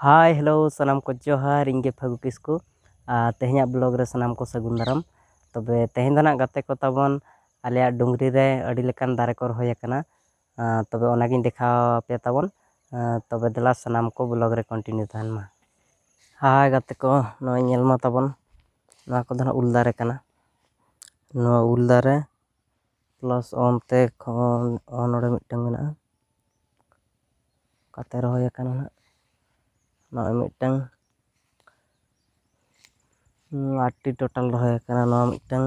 ᱦᱟᱭ hello ᱥᱟᱱᱟᱢ ᱠᱚ ᱡᱚᱦᱟᱨ ᱤᱧ ᱜᱮ ᱯᱷᱟᱹᱜᱩ ᱠᱤᱥᱠᱩ ᱟᱨ ᱛᱮᱦᱮᱧᱟᱜ ᱵᱞᱚᱜᱽ ᱨᱮ ᱥᱟᱱᱟᱢ ᱠᱚ ᱥᱟᱹᱜᱩᱱ ᱫᱟᱨᱟᱢ ᱛᱚᱵᱮ ᱛᱮᱦᱮᱧ ᱫᱚ ᱱᱟᱜ ᱜᱟᱛᱮ ᱠᱚ ᱛᱟᱵᱚᱱ ᱟᱞᱮᱭᱟᱜ ᱰᱩᱝᱨᱤ ᱨᱮ ᱟᱹᱰᱤ ᱞᱮᱠᱟᱱ ᱫᱟᱨᱮ ᱠᱚ ᱨᱚᱦᱚᱭ ᱟᱠᱟᱱᱟ ᱟᱨ ᱛᱚᱵᱮ ᱚᱱᱟᱜᱤᱧ ᱫᱮᱠᱷᱟᱣ ᱟᱯᱮ ᱛᱟᱵᱚᱱ ᱟᱨ ᱛᱚᱵᱮ ᱫᱮᱞᱟ ᱥᱟᱱᱟᱢ ᱠᱚ ᱵᱞᱚᱜᱽ ᱨᱮ ᱠᱚᱱᱴᱤᱱᱤᱭᱩ ᱛᱟᱦᱮᱱ ᱢᱟ ᱦᱟᱭ ᱜᱟᱛᱮ ᱠᱚ ᱱᱚᱜᱼᱚᱭ ᱧᱮᱞ ᱢᱟ ᱛᱟᱵᱚᱱ ᱱᱚᱣᱟ ᱠᱚᱫᱚ ᱱᱟᱜ ᱩᱞ ᱫᱟᱨᱮ ᱠᱟᱱᱟ ᱱᱚᱣᱟ ᱩᱞ ᱫᱟᱨᱮ ᱯᱞᱟᱥ ᱚᱱᱛᱮ ᱠᱷᱚᱱ ᱱᱚᱰᱮ ᱢᱤᱫᱴᱟᱝ ᱢᱮᱱᱟᱜᱼᱟ ᱚᱠᱟᱛᱮ ᱨᱚᱦᱚᱭ ᱟᱠᱟᱱᱟ ᱦᱟᱸᱜ ᱱᱚᱜᱼᱚᱭ ᱢᱤᱫᱴᱟᱝ ᱟᱴᱴᱤ ᱴᱳᱴᱟᱞ ᱨᱚᱦᱚᱭ ᱟᱠᱟᱱᱟ ᱱᱚᱣᱟ ᱢᱤᱫᱴᱟᱝ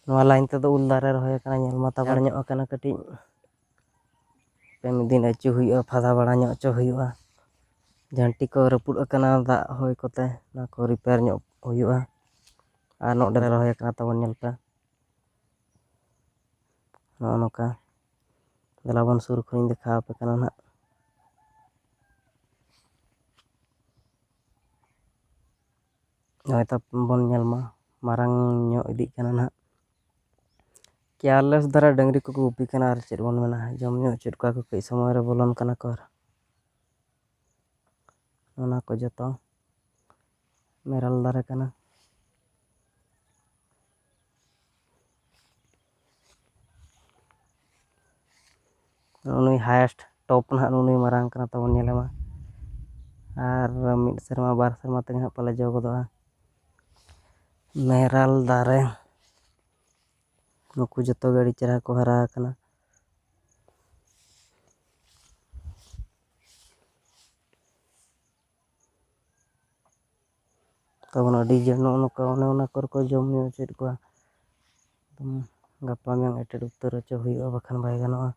ᱱᱚᱣᱟ ᱞᱟᱭᱤᱱ ᱛᱮᱫᱚ ᱩᱞ ᱫᱟᱨᱮ ᱨᱚᱦᱚᱭ ᱟᱠᱟᱱᱟ ᱧᱮᱞ ᱢᱟ ᱛᱟᱵᱟᱲ ᱧᱚᱜ ᱟᱠᱟᱱᱟ ᱠᱟᱹᱴᱤᱡ ᱢᱤᱫ ᱫᱤᱱ ᱟᱹᱪᱩ ᱦᱩᱭᱩᱜᱼᱟ ᱯᱷᱟᱫᱟ ᱵᱟᱲᱟ ᱧᱚᱜ ᱦᱚᱪᱚ ᱦᱩᱭᱩᱜᱼᱟ ᱡᱷᱟᱹᱱᱴᱤ ᱠᱚ ᱨᱟᱹᱯᱩᱫ ᱟᱠᱟᱱᱟ ᱫᱟᱜ ᱦᱚᱭ ᱠᱚᱛᱮ ᱚᱱᱟ ᱠᱚ ᱨᱤᱯᱮᱭᱟᱨ ᱧᱚᱜ ᱦᱩᱭᱩᱜᱼᱟ ᱟᱨ ᱱᱚᱸᱰᱮ ᱞᱮ ᱨᱚᱦᱚᱭ ᱠᱟᱫᱟ ᱛᱟᱵᱚᱱ ᱧᱮᱞ ᱯᱮ ᱱᱚᱜᱼᱚ ᱱᱚᱝᱠᱟ ᱫᱮᱞᱟ ᱵᱚᱱ ᱥᱩᱨ ᱠᱷᱚᱱᱤᱧ ᱫᱮᱠᱷᱟᱣ ᱟᱯᱮ ᱠᱟᱱᱟ ᱱᱟᱜ ᱱᱚᱜᱼᱚᱭ ᱛᱚ ᱵᱚᱱ ᱧᱮᱞ ᱢᱟ ᱢᱟᱨᱟᱝ ᱧᱚᱜ ᱤᱫᱤᱜ ᱠᱟᱱᱟ ᱱᱟᱜ ᱠᱮᱭᱟᱨᱞᱮᱥ ᱫᱷᱟᱨᱟ ᱰᱟᱹᱝᱨᱤ ᱠᱚᱠᱚ ᱜᱩᱯᱤ ᱠᱟᱱᱟ ᱟᱨ ᱪᱮᱫ ᱵᱚᱱ ᱢᱮᱱᱟ ᱡᱚᱢ ᱧᱩ ᱦᱚᱪᱚᱭᱮᱫ ᱠᱚᱣᱟ ᱠᱚ ᱠᱟᱹᱡ ᱥᱚᱢᱚᱭ ᱨᱮ ᱵᱚᱞᱚᱱ ᱠᱟᱱᱟ ᱠᱚ ᱟᱨ ᱚᱱᱟ ᱠᱚ ᱡᱚᱛᱚ ᱢᱮᱨᱚᱞ ᱫᱟᱨᱮ ᱠᱟᱱᱟ ᱱᱩᱭ ᱦᱟᱭᱮᱥᱴ ᱴᱚᱯ ᱱᱟᱦᱟᱜ ᱱᱩᱭ ᱢᱟᱨᱟᱝ ᱠᱟᱱᱟ ᱛᱟᱵᱚᱱ ᱧᱮᱞᱮ ᱢᱟ ᱟᱨ ᱢᱤᱫ ᱥᱮᱨᱢᱟ ᱵᱟᱨ ᱥᱮᱨᱢᱟ ᱛᱮᱜᱮ ᱱᱟᱦᱟᱜ ᱯᱟᱞᱮ ᱡᱚ ᱜᱚᱫᱚᱜᱼᱟ ᱢᱮᱨᱟᱞ ᱫᱟᱨᱮ ᱱᱩᱠᱩ ᱡᱚᱛᱚ ᱜᱮ ᱟᱹᱰᱤ ᱪᱮᱦᱨᱟ ᱠᱚ ᱦᱟᱨᱟ ᱟᱠᱟᱱᱟ ᱛᱟᱵᱚᱱ ᱟᱹᱰᱤ ᱡᱮ ᱱᱚᱜᱼᱚ ᱱᱚᱝᱠᱟ ᱚᱱᱮ ᱚᱱᱟ ᱠᱚᱨᱮ ᱠᱚ ᱡᱚᱢ ᱧᱩ ᱦᱚᱪᱚᱭᱮᱫ ᱠᱚᱣᱟ ᱜᱟᱯᱟ ᱢᱮᱭᱟᱝ ᱮᱴᱮᱫ ᱩᱛᱟᱹᱨ ᱦᱚᱪᱚ ᱦᱩᱭᱩᱜᱼᱟ ᱵᱟᱠᱷᱟᱱ ᱵᱟᱭ ᱜᱟᱱᱚᱜᱼᱟ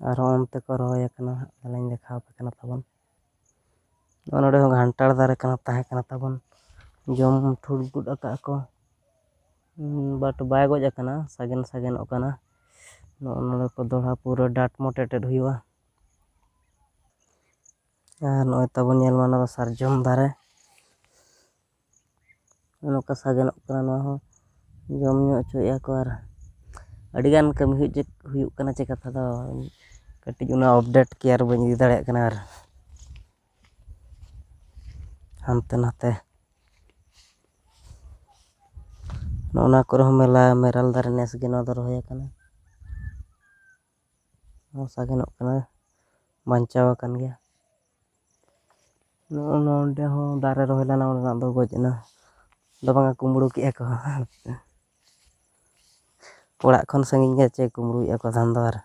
ᱟᱨᱦᱚᱸ ᱚᱱᱛᱮ ᱠᱚ ᱨᱚᱦᱚᱭ ᱟᱠᱟᱱᱟ ᱦᱟᱸᱜ ᱛᱟᱦᱚᱞᱮᱧ ᱫᱮᱠᱷᱟᱣᱟᱯᱮ ᱠᱟᱱᱟ ᱛᱟᱵᱚᱱ ᱱᱚᱰᱮ ᱦᱚᱸ ᱜᱷᱟᱱᱴᱟᱲ ᱫᱟᱨᱮ ᱠᱟᱱᱟ ᱛᱟᱦᱮᱸ ᱠᱟᱱᱟ ᱛᱟᱵᱚᱱ ᱡᱚᱢ ᱴᱷᱩᱲ ᱜᱚᱫ ᱟᱠᱟᱫ ᱟᱠᱚ ᱵᱟᱴ ᱵᱟᱭ ᱜᱚᱡ ᱟᱠᱟᱱᱟ ᱥᱟᱜᱮᱱ ᱥᱟᱜᱮᱱᱚᱜ ᱠᱟᱱᱟ ᱱᱚᱜᱼᱚ ᱱᱚᱰᱮ ᱠᱚ ᱫᱚᱦᱲᱟ ᱯᱩᱨᱟᱹ ᱰᱟᱴ ᱢᱚᱴ ᱮᱴᱮᱫ ᱦᱩᱭᱩᱜᱼᱟ ᱟᱨ ᱱᱚᱜᱼᱚᱭ ᱛᱟᱵᱚᱱ ᱧᱮᱞ ᱢᱮ ᱱᱚᱣᱟ ᱫᱚ ᱥᱟᱨᱡᱚᱢ ᱫᱟᱨᱮ ᱱᱚᱝᱠᱟ ᱥᱟᱜᱮᱱᱚᱜ ᱠᱟᱱᱟ ᱱᱚᱣᱟ ᱦᱚᱸ ᱡᱚᱢ ᱧᱩ ᱦᱚᱪᱚᱭᱮᱫᱼᱟ ᱠᱚ ᱟᱨ ᱟᱹᱰᱤᱜᱟᱱ ᱠᱟᱹᱢᱤ ᱦᱩᱭᱩᱜ ᱠᱟᱱᱟ ᱪᱮ ᱠᱟᱛᱷᱟ ᱫᱚ ᱠᱟᱹᱴᱤᱡ ᱚᱱᱟ ᱟᱯᱰᱮᱴ ᱠᱮ ᱟᱨ ᱵᱟᱹᱧ ᱤᱫᱤ ᱫᱟᱲᱮᱭᱟᱜ ᱠᱟᱱᱟ ᱟᱨ ᱦᱟᱱᱛᱮ ᱱᱟᱛᱮ ᱱᱚᱜᱼᱚ ᱱᱚᱣᱟ ᱠᱚᱨᱮ ᱦᱚᱸ ᱢᱮᱞᱟ ᱢᱮᱨᱟᱞ ᱫᱟᱨᱮ ᱱᱮᱥ ᱜᱮ ᱱᱚᱣᱟ ᱫᱚ ᱨᱚᱦᱚᱭ ᱠᱟᱱᱟ ᱥᱟᱜᱮᱱᱚᱜ ᱠᱟᱱᱟ ᱵᱟᱧᱪᱟᱣ ᱟᱠᱟᱱ ᱜᱮᱭᱟ ᱱᱚᱜᱼᱚ ᱱᱚᱰᱮ ᱦᱚᱸ ᱫᱟᱨᱮ ᱨᱚᱦᱚᱭ ᱞᱮᱱᱟ ᱚᱸᱰᱮᱱᱟᱜ ᱫᱚ ᱜᱚᱡ ᱮᱱᱟ ᱫᱚ ᱵᱟᱝᱟ ᱠᱩᱢᱵᱽᱲᱩ ᱠᱮᱫᱼᱟ ᱠᱚ ᱚᱲᱟᱜ ᱠᱷᱚᱱ ᱥᱟᱺᱜᱤᱧ ᱜᱮᱭᱟ ᱪᱮᱫ ᱠᱩᱢᱵᱽᱲᱩᱭᱮᱫᱼᱟ ᱠᱚ ᱫᱷᱟᱱ ᱫᱚ ᱟᱨ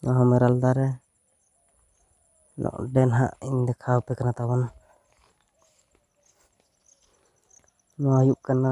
ᱱᱚᱣᱟ ᱦᱚᱸ ᱢᱮᱨᱚᱞ ᱫᱟᱨᱮ ᱱᱚᱰᱮ ᱱᱟᱦᱟᱜ ᱤᱧ ᱫᱮᱠᱷᱟᱣ ᱟᱯᱮ ᱠᱟᱱᱟ ᱛᱟᱵᱚᱱ ᱱᱚᱣᱟ ᱦᱩᱭᱩᱜ ᱠᱟᱱᱟ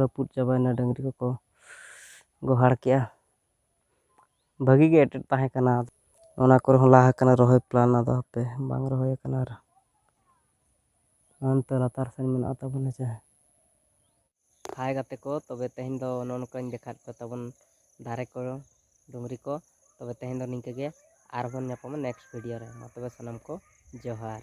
ᱨᱟᱹᱯᱩᱫ ᱪᱟᱵᱟᱭᱮᱱᱟ ᱰᱟᱹᱝᱨᱤ ᱠᱚᱠᱚ ᱜᱚᱦᱟᱲ ᱠᱮᱜᱼᱟ ᱵᱷᱟᱹᱜᱤ ᱜᱮ ᱮᱴᱮᱫ ᱛᱟᱦᱮᱸ ᱠᱟᱱᱟ ᱚᱱᱟ ᱠᱚᱨᱮ ᱦᱚᱸ ᱞᱟᱦᱟ ᱠᱟᱱᱟ ᱨᱚᱦᱚᱭ ᱯᱞᱟᱱ ᱟᱫᱚ ᱦᱟᱯᱮ ᱵᱟᱝ ᱨᱚᱦᱚᱭ ᱠᱟᱱᱟ ᱟᱨ ᱚᱱᱛᱮ ᱞᱟᱛᱟᱨ ᱥᱮᱱ ᱢᱮᱱᱟᱜ ᱛᱟᱵᱚᱱᱟ ᱪᱮ ᱦᱟᱭ ᱜᱟᱛᱮ ᱠᱚ ᱛᱚᱵᱮ ᱛᱮᱦᱮᱧ ᱫᱚ ᱱᱚᱜᱼᱚ ᱱᱚᱝᱠᱟᱧ ᱫᱮᱠᱷᱟᱣ ᱯᱮ ᱛᱟᱵᱚᱱ ᱫᱟᱨᱮ ᱠᱚ ᱰᱩᱝᱨᱤ ᱠᱚ ᱛᱚᱵᱮ ᱛᱮᱦᱮᱧ ᱫᱚ ᱱᱤᱝᱠᱟᱹ ᱜᱮ ᱟᱨᱵᱚᱱ ᱧᱟᱯᱟᱢᱟ ᱱᱮᱠᱥᱴ ᱵᱷᱤᱰᱤᱭᱳ ᱨᱮ ᱢᱟ ᱛᱚᱵᱮ ᱥᱟᱱᱟᱢ ᱠᱚ ᱡᱚᱦᱟᱨ